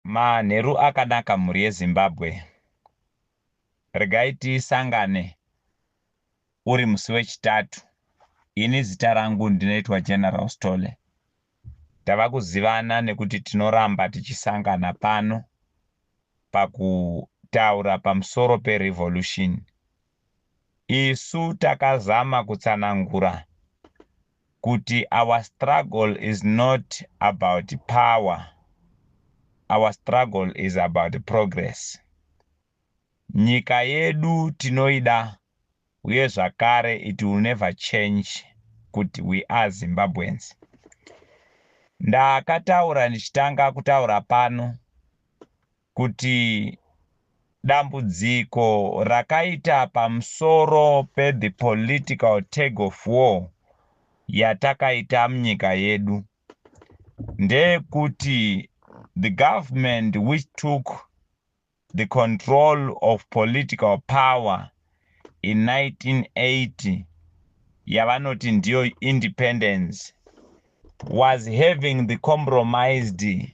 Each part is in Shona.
Manheru akanaka mhuri yeZimbabwe. Regai tisangane uri musi wechitatu. Ini zita rangu ndinoitwa General Sithole. Tava kuzivana nekuti tinoramba tichisangana pano pakutaura pamusoro perevolution Isu takazama kutsanangura kuti our struggle is not about power, our struggle is about progress. Nyika yedu tinoida uye zvakare it will never change kuti we are Zimbabweans. Ndakataura ndichitanga kutaura pano kuti dambudziko rakaita pamsoro pe the political tag of war yatakaita mnyika yedu ndeyekuti the government which took the control of political power in 1980 yavanoti ndiyo independence was having the compromised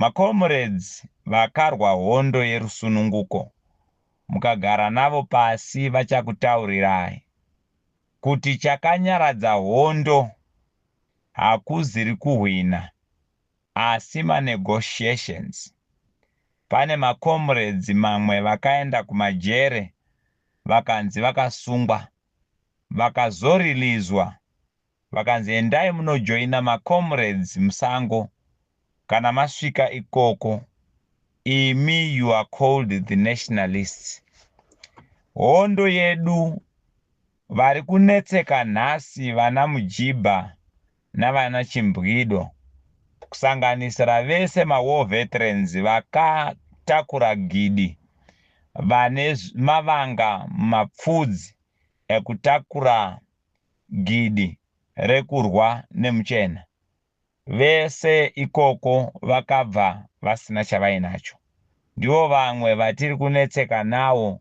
Macomrades vakarwa hondo yerusununguko mukagara navo pasi vachakutaurirai kuti chakanyaradza hondo hakuzirikuhwina asi manegotiations. Pane macomrades mamwe vakaenda kumajere vakanzi vakasungwa vakazoreleaswa Vakanzi endai munojoina ma comrades musango kana masvika ikoko imi you are called the nationalists. Hondo yedu vari kunetseka nhasi vana Mujibha navana Chimbwido kusanganisira vese ma war veterans vakatakura gidi vane mavanga mapfudzi ekutakura gidi rekurwa nemuchena. Vese ikoko vakabva vasina chavainacho. Ndivo vamwe vatiri kunetseka nawo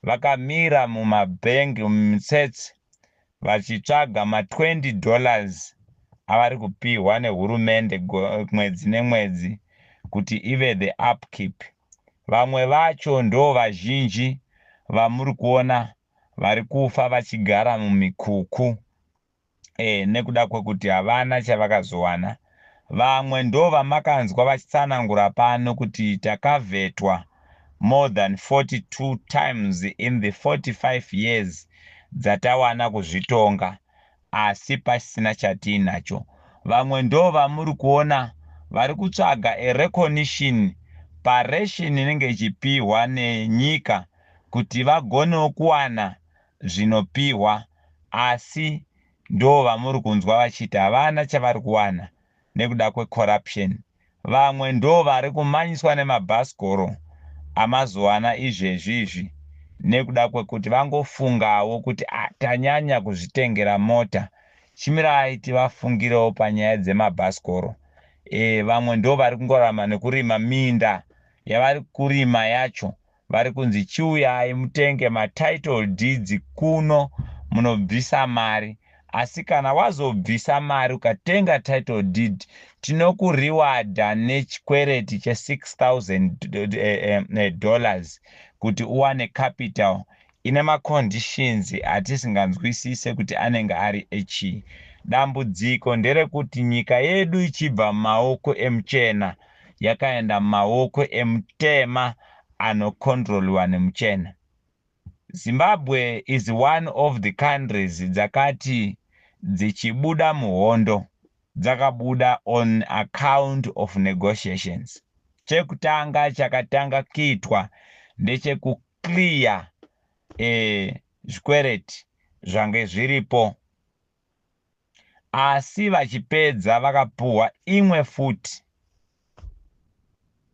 vakamira mumabhengi mumitsets vachitsvaga ma 20 dollars avari kupihwa nehurumende mwedzi nemwedzi kuti ive the upkeep. Vamwe vacho ndovazhinji vamuri kuona vari kufa vachigara mumikuku eh, nekuda kwekuti havana chavakazowana. Vamwe ndovamakanzwa vachitsanangura pano kuti takavhetwa more than 42 times in the 45 years dzatawana kuzvitonga. asi pasina chatiinacho vamwe ndovamuri kuona vari kutsvaga a recognition paration inenge ichipihwa nenyika kuti vagonewo kuwana zvinopihwa asi ndovamuri kunzwa vachiti havana chavari kuwana nekuda kwe corruption vamwe ndovari kumanyiswa nemabhasikoro amazuwana izvezvi izvi nekuda kwekuti vangofungawo kuti ah tanyanya kuzvitengera mota chimirai tivafungirewo panyaya dzemabhasikoro eh vamwe ndovari kungorarama nekurima minda yavari kurima yacho vari kunzi chiuyai mutenge ma title deeds kuno munobvisa mari asi kana wazobvisa mari ukatenga title deed tinokurewardha nechikwereti che 6000 eh, eh, eh, dollars kuti uwane capital Ine ma conditions atisinganzwisise kuti anenge ari echii. Dambudziko nderekuti nyika yedu ichibva mumaoko emuchena yakaenda mumaoko emutema ano controliwa nemuchena. Zimbabwe is one of the countries dzakati dzichibuda muhondo dzakabuda on account of negotiations. Chekutanga chakatanga kuitwa ndecheku clear eh, zvikwereti zvange zviripo asi vachipedza vakapuhwa imwe futi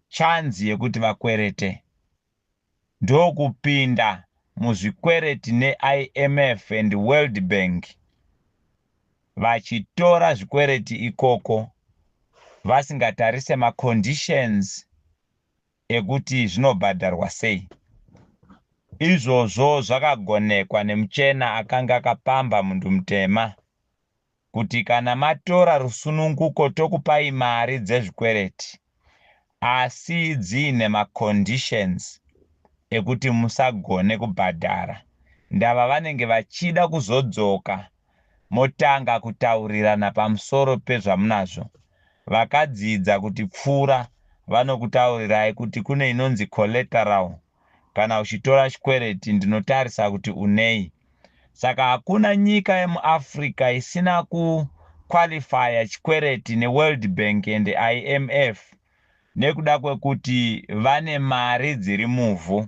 chanzi yekuti vakwerete ndokupinda muzvikwereti neimf and world bank vachitora zvikwereti ikoko vasingatarise maconditions ekuti zvinobhadharwa sei. Izvozvo zvakagonekwa nemuchena akange akapamba mundu mutema kuti kana matora rusununguko tokupai mari dzezvikwereti asi dziine ma conditions ekuti musagone kubhadhara ndava vanenge vachida kuzodzoka motanga kutaurirana pamusoro pezvamunazvo. Vakadzidza kutipfuura vanokutaurirai kuti kune inonzi collateral kana uchitora chikwereti ndinotarisa kuti unei. Saka hakuna nyika yemuAfrica isina ku qualifier chikwereti neWorld Bank and IMF nekuda kwekuti vane mari dziri muvhu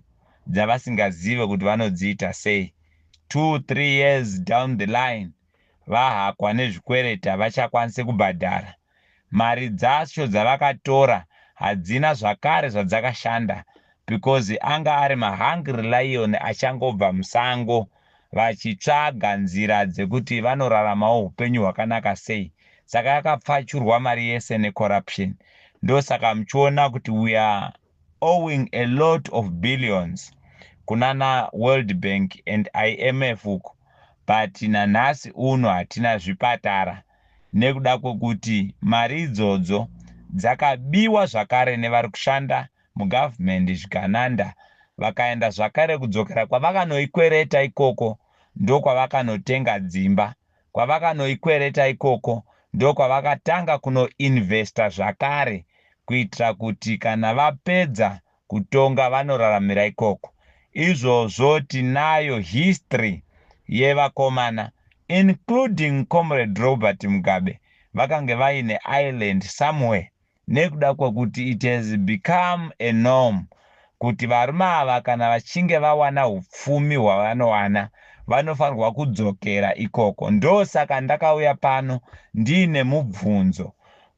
dzavasingazive kuti vanodziita sei two three years down the line vahakwa nezvikwereti havachakwanise kubhadhara mari dzacho dzavakatora hadzina zvakare zvadzakashanda because anga ari mahungry lion achangobva musango vachitsvaga nzira dzekuti vanoraramawo hupenyu hwakanaka sei saka yakapfachurwa mari yese necorruption ndosaka muchiona kuti we are owing a lot of billions kunana world bank and imf uko but nanhasi uno hatina zvipatara nekuda kwekuti mari idzodzo dzakabiwa zvakare nevari kushanda muGovernment zvikananda vakaenda zvakare kudzokera kwavakanoikwereta ikoko ndokwavakanotenga dzimba kwavakanoikwereta ikoko ndokwavakatanga kuno investa zvakare kuitira kuti kana vapedza kutonga vanoraramira ikoko izvozvo tinayo history yevakomana including Comrade Robert Mugabe vakange vaine island somewhere nekuda kwekuti it has become a norm kuti varume ava kana vachinge vawana hupfumi hwavanowana vanofanirwa kudzokera ikoko. Ndosaka ndakauya pano ndiine mubvunzo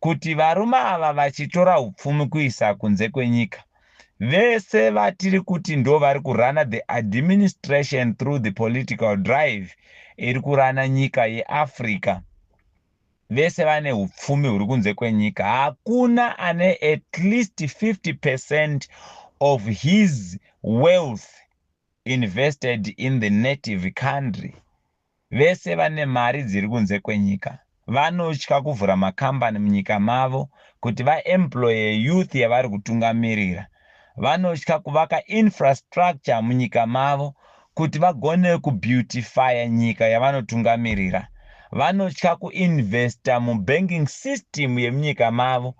kuti varume ava vachitora hupfumi kuisa kunze kwenyika, vese vatiri kuti ndovari kurana the administration through the political drive iri kurana nyika yeAfrica, vese vane hupfumi huri kunze kwenyika hakuna ane at least 50 percent of his wealth invested in the native country vese vane mari dziri kunze kwenyika vanotya kuvhura makambani munyika mavo kuti vaemploye youth yavari kutungamirira vanotya kuvaka infrastructure munyika mavo kuti vagone kubeautifyer nyika yavanotungamirira. Vanotya kuinvesta mubanking system yemunyika mavo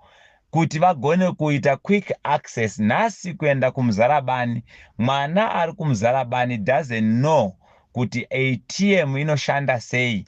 kuti vagone kuita quick access nhasi kuenda kumuzarabani. Mwana ari kumuzarabani doesn't know kuti ATM inoshanda sei.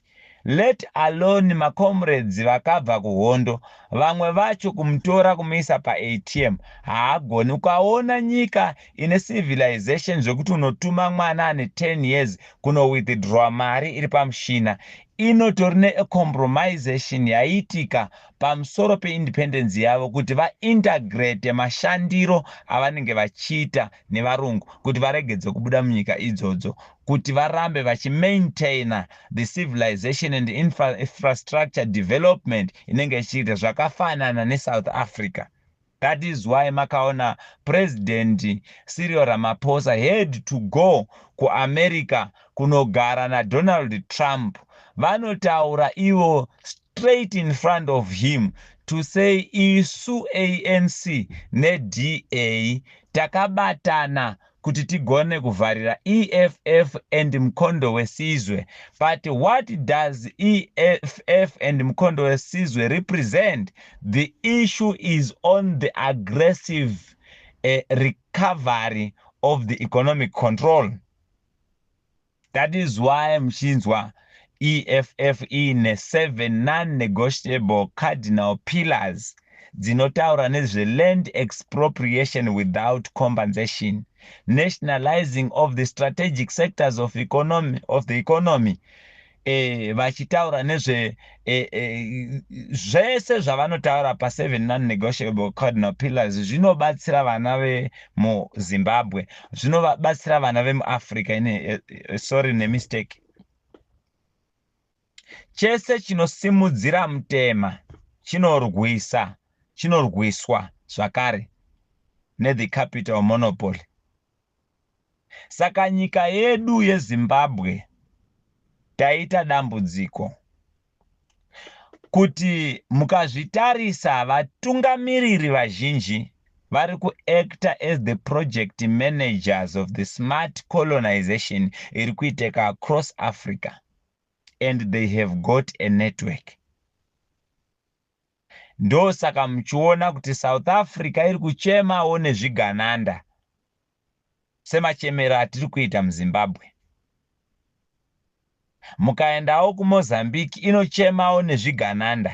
Let alone ma comrades vakabva kuhondo vamwe vacho kumutora kumuisa pa ATM haagoni ukaona nyika ine civilization zvekuti unotuma mwana ane 10 years kuno withdrawa mari iri pamushina inotori ne a compromisation yaiitika pamusoro pe independence yavo kuti va integrate mashandiro avanenge vachiita nevarungu kuti varegedzwe kubuda munyika idzodzo kuti varambe vachimaintainer the civilization and infrastructure development inenge ichiita zvakafanana nesouth africa that is why makaona president sirio ramaphosa had to go kuamerica kunogara nadonald trump vanotaura ivo straight in front of him to say isu anc neda takabatana kuti tigone kuvharira eff and mkondo wesizwe but what does eff and mkondo wesizwe represent the issue is on the aggressive uh, recovery of the economic control That is why muchinzwa EFF iine seven non-negotiable cardinal pillars dzinotaura nezveLand Expropriation Without Compensation, Nationalizing of the Strategic Sectors of, economy, of the Economy, eh, vachitaura nezve e, e, zvese zvavanotaura paseven non-negotiable cardinal pillars zvinobatsira vana vemuzimbabwe zvinobatsira vana vemuafrica ine e, e, sorry nemistake chese chinosimudzira mutema chinorwisa chinorwiswa zvakare nethe capital monopoly Saka nyika yedu yeZimbabwe taita dambudziko kuti mukazvitarisa vatungamiriri vazhinji vari ku actor as the project managers of the smart colonization iri kuiteka across Africa and they have got a network. Ndosaka muchiona kuti South Africa iri kuchemawo nezvigananda semachemero atiri kuita muZimbabwe. Mukaendawo kuMozambique inochemawo nezvigananda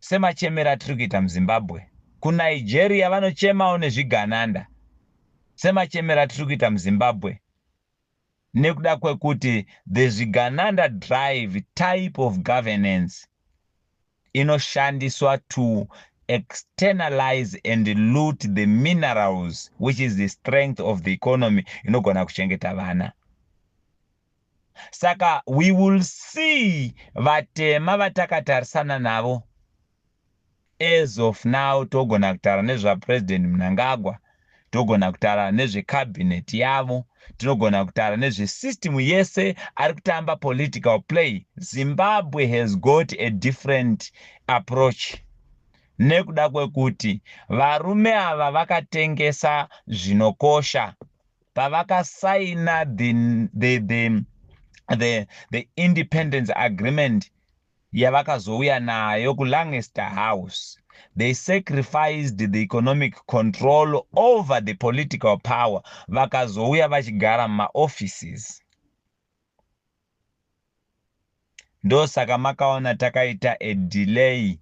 semachemero atiri kuita muZimbabwe. KuNigeria vanochemawo nezvigananda semachemero atiri kuita muZimbabwe. nekuda kwekuti the Zvigananda drive type of governance inoshandiswa to externalize and loot the minerals which is the strength of the economy inogona kuchengeta vana saka we will see vatema vatakatarisana navo As of now togona kutaura nezva President Mnangagwa, togona kutaura nezve cabinet yavo, tinogona kutaura nezve system yese ari kutamba political play. Zimbabwe has got a different approach nekuda kwekuti varume ava vakatengesa zvinokosha pavakasaina the, the, the, the, the independence agreement yavakazouya nayo kuLangester House, they sacrificed the economic control over the political power vakazouya vachigara mumaoffices. Ndosaka makaona takaita a delay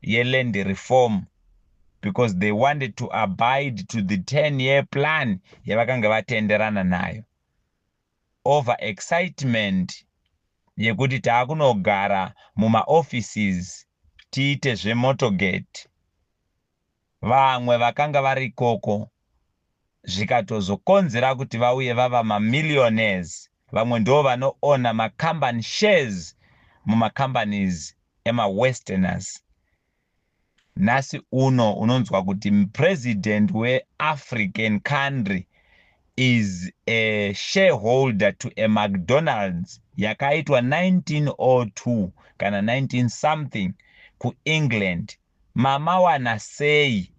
yeland reform because they wanted to abide to the 10 year plan yavakanga vatenderana nayo. over excitement yekuti takunogara muma offices tiite zve motorgate. Vamwe vakanga vari ikoko zvikatozokonzera kuti vauye vava ma millionaires vamwe ndovano owner ma company shares muma companies ema westerners. Nhasi uno unonzwa kuti president we African country is a shareholder to a McDonald's yakaitwa 1902 kana 19 something kuEngland. Mamawana sei?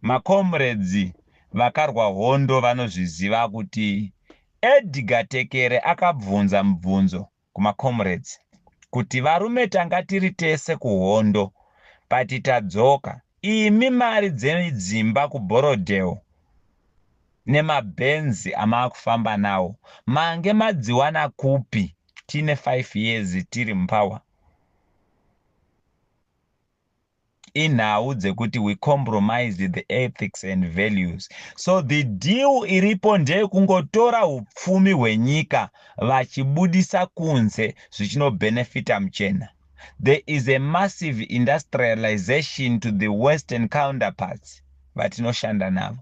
Macomrades vakarwa hondo vanozviziva kuti Edgar Tekere akabvunza mubvunzo kuma comrades kuti varume tanga tiri tese kuhondo but tadzoka imi mari dzedzimba ku Borrowdale nema Benz amaakufamba nawo mange madziwana kupi tine five years tiri mupower inhau dzekuti we compromise the ethics and values so the deal iripo ndeyekungotora upfumi hwenyika vachibudisa kunze zvichinobenefita muchena there is a massive industrialization to the western counterparts vatinoshanda navo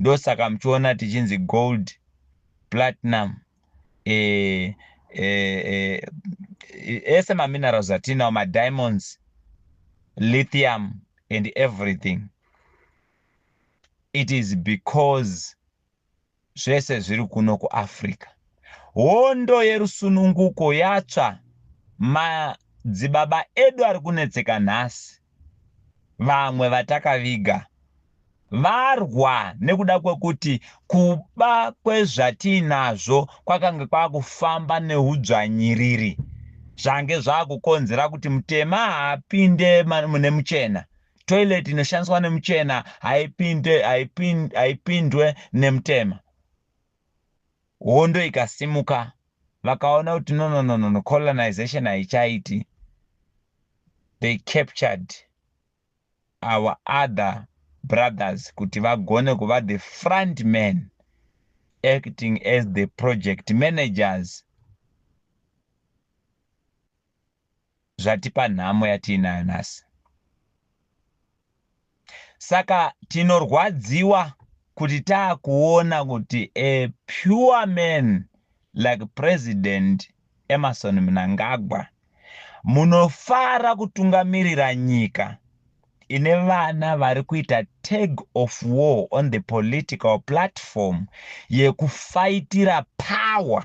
ndosaka muchiona tichinzi gold platinum eh, eh, eh, ese maminerals atinawo madiamonds lithium and everything it is because zvese zviri kuno kuafrica hondo yerusununguko yatsva madzibaba edu ari kunetseka nhasi vamwe vatakaviga varwa nekuda kwekuti kuba kwezvatiinazvo kwakange kwakufamba neudzvanyiriri zvange zvakukonzera kuti mutema haapinde mune muchena toilet inoshandiswa nemuchena haipinde haipindwe nemutema hondo ikasimuka vakaona kuti no no no no colonization haichaiti they captured our other brothers kuti vagone kuva the front man acting as the project managers zvatipa nhamo yatiinayo nhasi. Saka tinorwadziwa kuti taakuona kuti a pure man like President Emmerson Mnangagwa munofara kutungamirira nyika ine vana vari kuita tag of war on the political platform yekufaitira power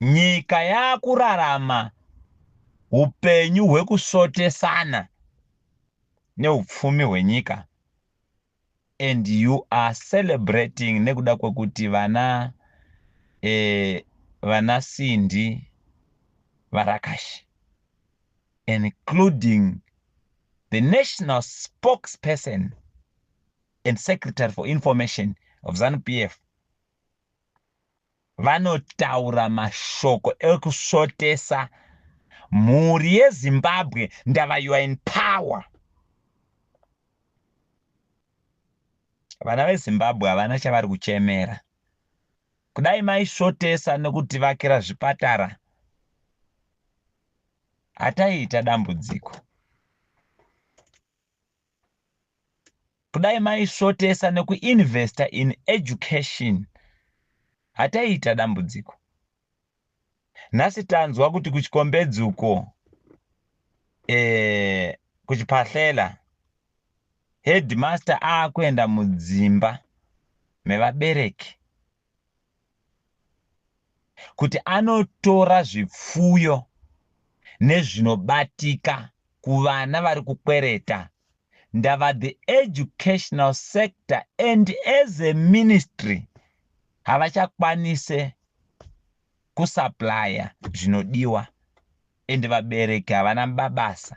nyika yakurarama upenyu hwekusotesana neupfumi hwenyika and you are celebrating nekuda kwekuti vana eh, vana sindi varakashi including the national spokesperson and secretary for information of zanupf Vanotaura mashoko ekusvotesa mhuri yeZimbabwe ndava you are in power. Vana veZimbabwe havana chavari kuchemera. Kudai maisvotesa nokutivakira zvipatara hataiita dambudziko. kudai maisvotesa nekuinvesta in education hataiita dambudziko nhasi tanzwa kuti kuchikombedzi uko e, kuchipahlela headmaster akuenda mudzimba mevabereki kuti anotora zvipfuyo nezvinobatika kuvana vari kukwereta ndava the educational sector and as a ministry havachakwanise kusuplya zvinodiwa and vabereki havana babasa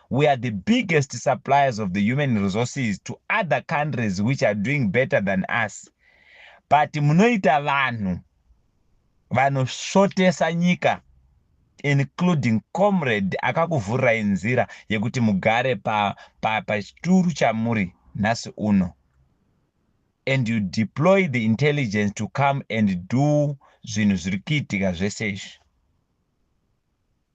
we are the biggest suppliers of the human resources to other countries which are doing better than us but munoita vanhu vanosvotesa nyika including comrade akakuvhurirai nzira yekuti mugare pachituru pa, pa chamuri nhasi uno and you deploy the intelligence to come and do zvinhu zviri kuitika zvese izvi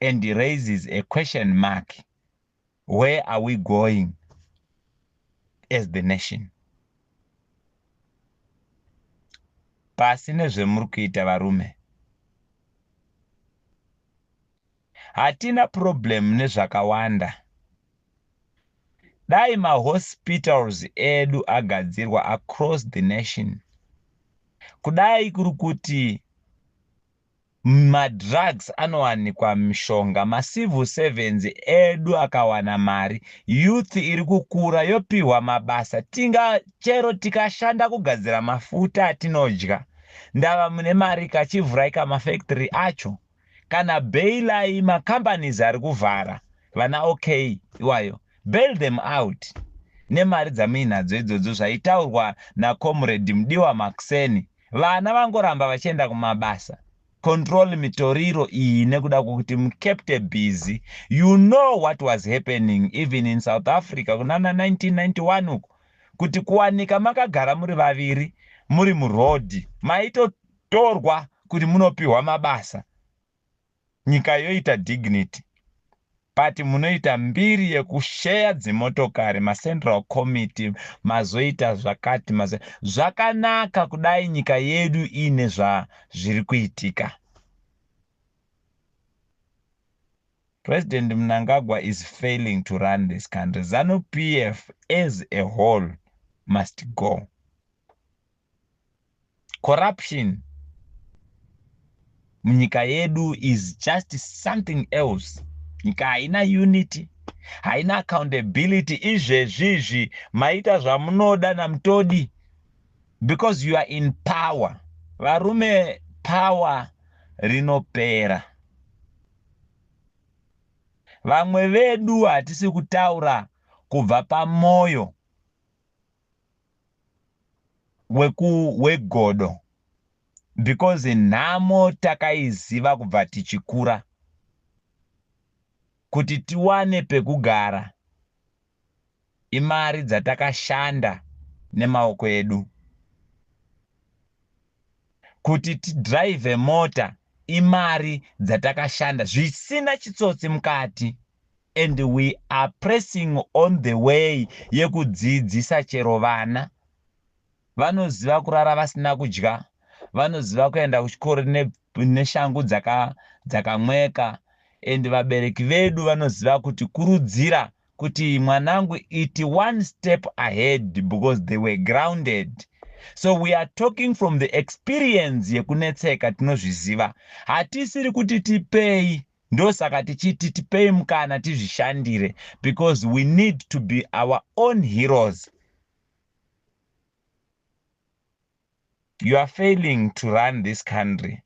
and raises a question mark where are we going as the nation pasi nezvemuri kuita varume hatina problem nezvakawanda dai mahospitals edu agadzirwa across the nation kudai kuri kuti Madrugs anowanikwa mishonga macivil servants edu akawana mari youth irikukura yopihwa mabasa tinga chero tikashanda kugadzira mafuta atinodya ndava mune marika chivhuraika mafactory acho kana bailai macompanies arikuvhara vana ok iwayo bail them out nemari dzamuinadzo idzodzo zvaitaurwa nacomrade mudiwa makuseni Vana vangoramba vachienda kumabasa. Control mitoriro iyi nekuda kwekuti mukepte busy. You know what was happening even in South Africa kunana 1991 uku kuti kuwanika makagara muri vaviri muri muroad maitotorwa kuti munopiwa mabasa. Nyika yoita dignity but munoita mbiri yekusheya dzimotokari macentral committee mazoita zvakati mazo zvakanaka kudai nyika yedu iine zvazviri kuitika. President Mnangagwa is failing to run this country. Zanu PF as a whole must go. corruption munyika yedu is just something else nyika haina unity haina accountability izvezvizvi maita zvamunoda namutodi because you are in power varume power rinopera vamwe vedu hatisi kutaura kubva pamoyo wekuwegodo because nhamo takaiziva kubva tichikura kuti tiwane pekugara imari dzatakashanda nemaoko edu kuti tidrive mota imari dzatakashanda zvisina chitsotsi mukati and we are pressing on the way yekudzidzisa chero vana vanoziva kurara vasina kudya vanoziva kuenda kuchikoro neshangu dzakamweka and vabereki vedu vanoziva kuti kurudzira kuti mwanangu it one step ahead because they were grounded so we are talking from the experience yekunetseka tinozviziva hatisiri kuti tipei ndosaka tichiti tipei mukana tizvishandire because we need to be our own heroes you are failing to run this country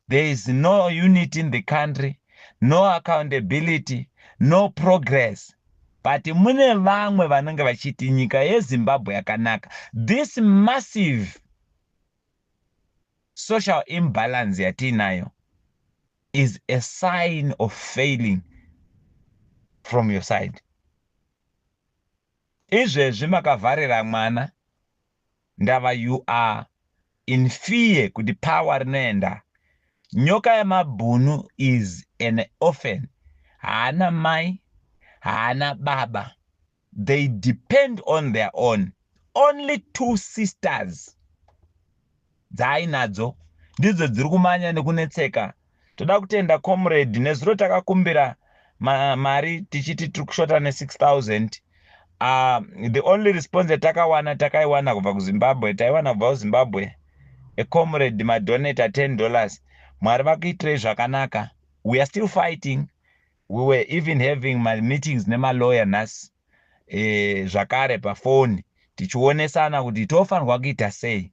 There is no unity in the country, no accountability, no progress. But mune vamwe vanenge vachiti nyika yeZimbabwe yakanaka. This massive social imbalance yatiinayo is a sign of failing from your side. Izvezvi makavharira mwana Ndava you are in fear kuti power rinoenda. Nyoka yamabhunu is an orphan haana mai haana baba they depend on their own only two sisters dzaainadzo ndidzo dziri kumanya nekunetseka Toda kutenda comrade nezuro takakumbira ma, mari tichiti tiri kushota ne 6000 uh, ah, the only response yatakawana takaiwana kubva kuzimbabwe taiwana kubva kuzimbabwe ecomrade madonata 10 dollars mwari vakuitirei zvakanaka we are still fighting we were even having mameetings nemalawyer nhasi e, zvakare pafoni tichionesana kuti tofanirwa kuita sei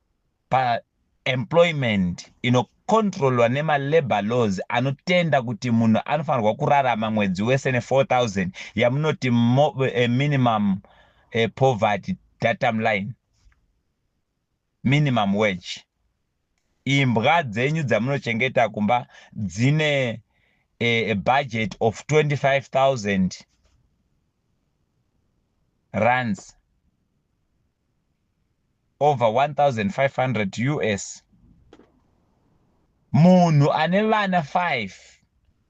pa employment inocontrolwa nemalabour laws anotenda kuti munhu anofanirwa kurarama mwedzi wese ne4000 yamunoti eh, minimum eh, poverty datum line minimum wage imbwa dzenyu dzamunochengeta kumba dzine eh, a budget of 25000 runs over 1500 us munhu ane vana 5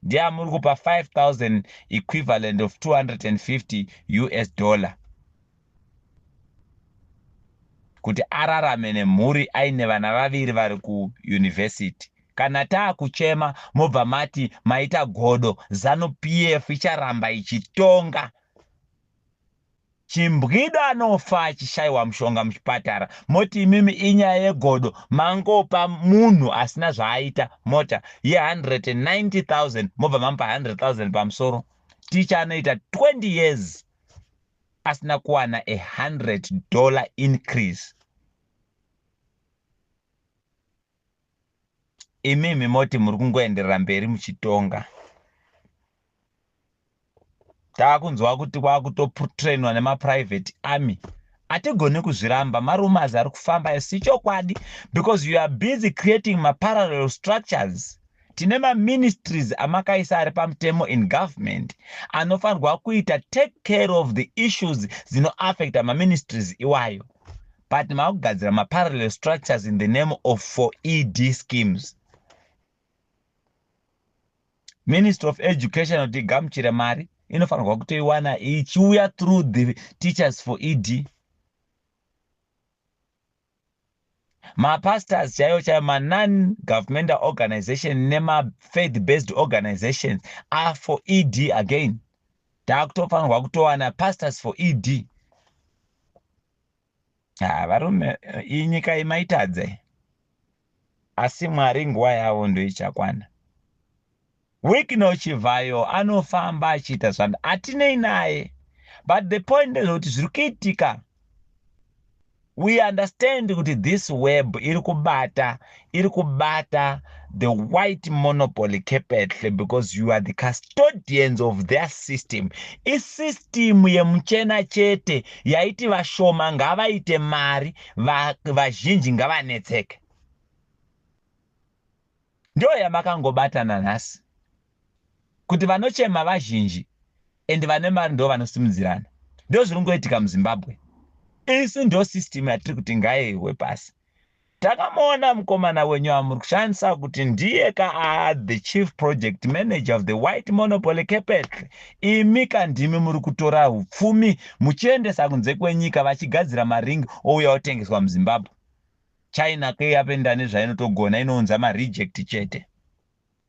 ndiye amuri kupa 5000 equivalent of 250 us dollar kuti ararame nemhuri aine vana vaviri vari kuyunivhesiti kana taakuchema mobva mati maita godo zanu pf icharamba ichitonga Chimbwida anofa achishaiwa mushonga muchipatara moti imimi inyaya yegodo mangopa munhu asina zvaaita mota ye 190000 mobva mamupa 100000 pamusoro ticha anoita 20 years asina kuwana a 100 dollar increase imimi moti muri kungoenderera mberi muchitonga taakunzwa kuti kwakutotrainwa nemaprivate army hatigoni kuzviramba marumas ari kufamba isi chokwadi because you are busy creating maparallel structures tine maministries amakaisa ari pamutemo in government anofanirwa kuita take care of the issues dzinoaffecta maministries iwayo but makugadzira maparallel structures in the name of for ed schemes Ministry of Education kuti igamuchire mari inofanirwa kutoiwana ichiuya through the teachers for ED. Mapastors chaiwo chaiwo manon governmental organization nemafaith based organizations are for ED again. Takutofanirwa kutowana pastors for ED. ha varume iyi nyika iyi maitadze asi mwari nguva yavo ndoichakwana wikno chivhayo anofamba achiita zvanda atinei naye but the point ndezvekuti zviri kuitika we understand kuti this web iri kubata iri kubata the white monopoly capital because you are the custodians of their system isystem yemuchena chete yaiti vashoma ngavaite mari vazhinji va ngavanetseke ndiyo yamakangobatana nhasi kuti vanochema vazhinji and vane mari ndo vanosimudzirana ndo zviri ngoitika muzimbabwe isu ndo system yatiri kuti ngaiwe pasi Takamuona mukomana wenyu amuri kushandisa kuti ndiye ka aa the chief project manager of the white monopoly capital imi ka ndimi muri kutora hupfumi muchiendesa kunze kwenyika vachigadzira maring ouya otengeswa muzimbabwe china keyapenda nezvainotogona inounza mareject chete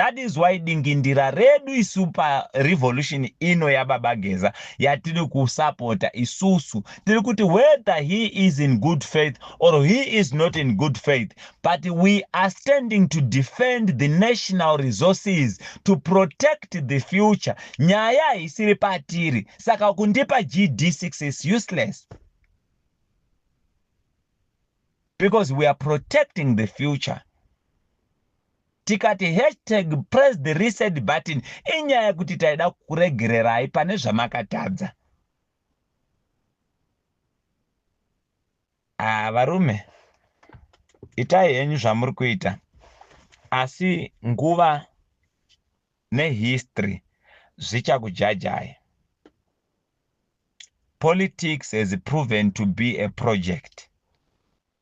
That is why dingindira redu isu pa revolution ino yababa Geza yatiri kusapota isusu tiri kuti whether he is in good faith or he is not in good faith but we are standing to defend the national resources to protect the future nyaya haisiri patiri saka kundipa GD6 is useless because we are protecting the future Tikati hashtag press the reset button inyaya kuti taida kukuregererai pane zvamakatadza. Ah, varume itai henyu zvamuri kuita asi nguva nehistory zvichakujajai. Politics has proven to be a project.